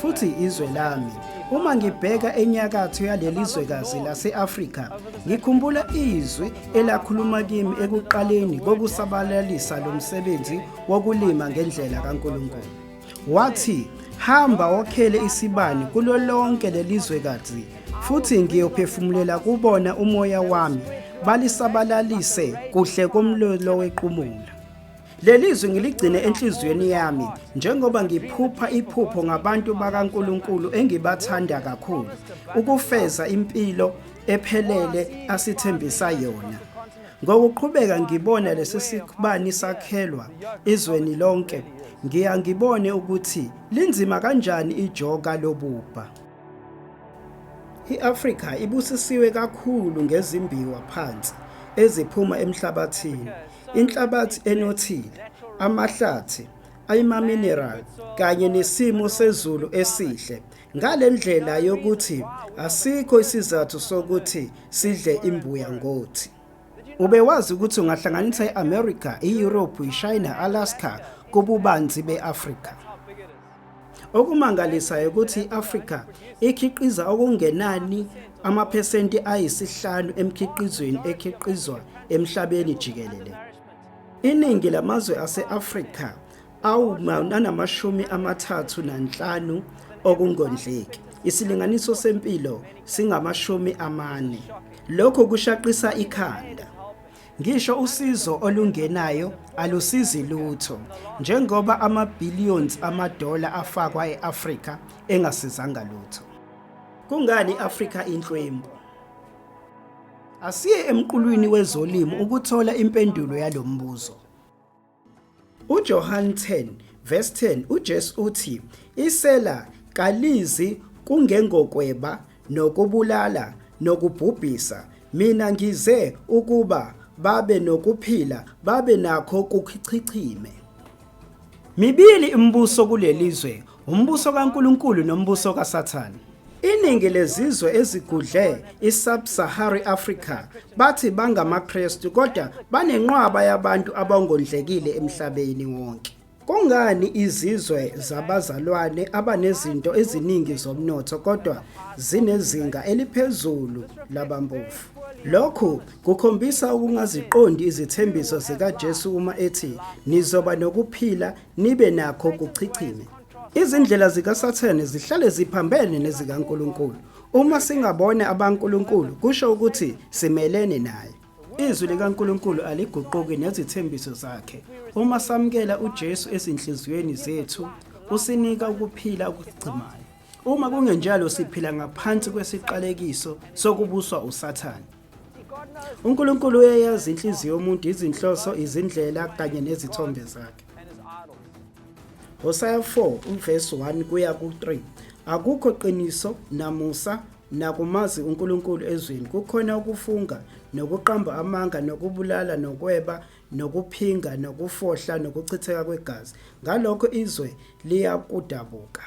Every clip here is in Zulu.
futhi izwe lami. Uma ngibheka enyakatho yaleli zwekazi lase-Afrika, ngikhumbula izwi elakhuluma kimi ekuqaleni kokusabalalisa lo msebenzi wokulima ngendlela kaNkulunkulu. Wathi, hamba wokhele isibani kulo lonke leli zwekazi, futhi ngiyophefumulela kubona umoya wami, balisabalalise kuhle komlilo wequmula. Lelizwi ngiligcine enhliziyweni yami njengoba ngiphupha iphupho ngabantu bakaNkuluNkulu engibathanda kakhulu ukufeza impilo ephelele asithembisa yona. Ngokuqhubeka ngibona lesi sikubani sakhelwa izweni lonke, ngiya ngibone ukuthi linzima kanjani ijoka lobubha. I-Afrika ibusisiwe kakhulu ngezimbiwa phansi eziphuma emhlabathini. inhlabathi enothile, amahlathi ayimamineral kanye nesimo sezulu esihle ngalendlela yokuthi asikho isizathu sokuthi sidle imbuya ngothi ubewazi ukuthi ungahlanganisa iAmerica, iEurope, iChina, Alaska kububanzi beAfrica Okumangalisayo ukuthi i-Afrika ikhiqiza okungenani amaphesenti ayisihlanu emkhiqizweni ekhiqizwa emhlabeni jikelele. Iningi lamazwe ase-Afrika awunanamashumi amathathu nanhlanu okungondleki. Isilinganiso sempilo singamashumi amane. Lokhu kushaqisa ikhanda. Ngisho usizo olungenayo alusizi lutho njengoba ama-billions amadola afakwa e-Afrika engasizanga lutho. Kungani i-Afrika inhlwempu? Asiye emqulwini wezolimo ukuthola impendulo yalo mbuzo. UJohan 10 verse 10 uJesu uthi isela kalizi kungengokweba nokubulala nokubhubhisa mina ngize ukuba babe nokuphila babe nakho kuchichime. Mibili imibuso kulelizwe Umbuso kaNkulunkulu nombuso kaSathane. Iningi lezizwe ezigudle i-Sub-Sahara Africa bathi bangamaKristu kodwa banenqwaba yabantu abangondlekile emhlabeni wonke. Kungani izizwe zabazalwane abanezinto eziningi zomnotho kodwa zinezinga eliphezulu labampofu? Lokhu kukhombisa ukungaziqondi izithembiso zikaJesu uma ethi nizoba nokuphila nibe nakho kuchichime. Izindlela zikaSathane zihlale ziphambene nezikaNkulunkulu. Uma singabone abankulunkulu kusho ukuthi simelene naye. Izwi likaNkulunkulu aliguquki nezithembiso zakhe. Uma samukela uJesu ezinhliziyweni zethu, usinika ukuphila okugcimayo. Uma kungenjalo siphila ngaphansi kwesiqalekiso sokubuswa uSathane. uNkulunkulu uyayazi inhliziyo yomuntu izinhloso izindlela kanye nezithombe zakhe Hosea 4 uvesi 1 kuya ku-3 akukho qiniso namusa nakumazi uNkulunkulu ezweni kukhona ukufunga nokuqamba amanga nokubulala nokweba nokuphinga nokufohla nokuchitheka kwegazi ngalokho izwe liyakudabuka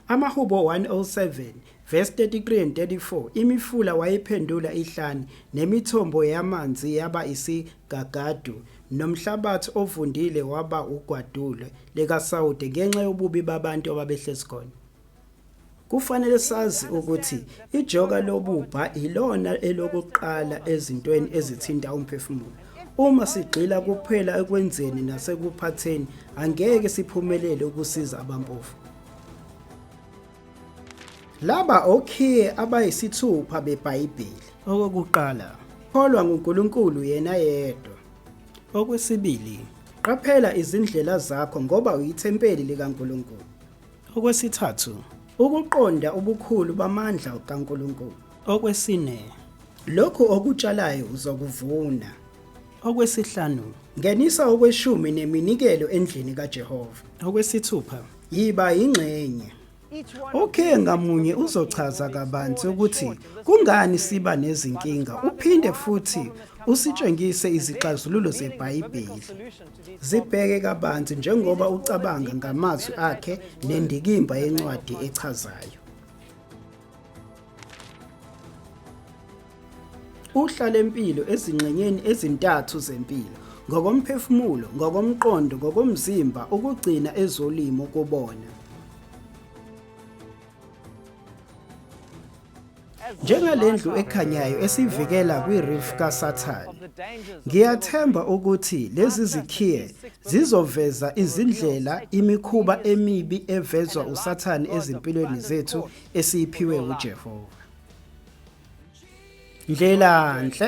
Amahubo 107 verse 33 and 34 imifula wayiphendula ihlane nemithombo yamanzi yaba isigagadu nomhlabathi ovundile waba ugwadule likaSawude ngenxa yobubi babantu ababehlezi khona. Kufanele sazi ukuthi ijoka lobubha yilona elokuqala ezintweni ezithinta umphefumulo. Uma sigxila kuphela ekwenzeni nasekuphatheni, angeke siphumelele ukusiza abampofu. Laba okhiye abayisithupha beBhayibheli. Okokuqala, kholwa nguNkulunkulu yena yedwa. Okwesibili, qaphela izindlela zakho ngoba uyithempeli likaNkulunkulu. Okwesithathu, ukuqonda ubukhulu bamandla kaNkulunkulu. Okwesine, lokhu okutshalayo uzokuvuna. Okwesihlanu, ngenisa okweshumi neminikelo endlini kaJehova. Okwesithupha, yiba yingxenye. Okhe ngamunye uzochaza kabanzi ukuthi kungani siba nezinkinga uphinde futhi usitshengise izixazululo zeBhayibheli. Zibheke kabanzi njengoba ucabanga ngamazwi akhe nendikimba yencwadi echazayo. Uhla lempilo ezingxenyeni ezintathu zempilo ngokomphefumulo, ngokomqondo, ngokomzimba ukugcina ezolimo kubona. njengale ndlu ekhanyayo esivikela kwi-reef kasathane ngiyathemba ukuthi lezi zikhiye zizoveza izindlela imikhuba emibi evezwa usathane ezimpilweni zethu esiyiphiwe ujehova ndlela nhle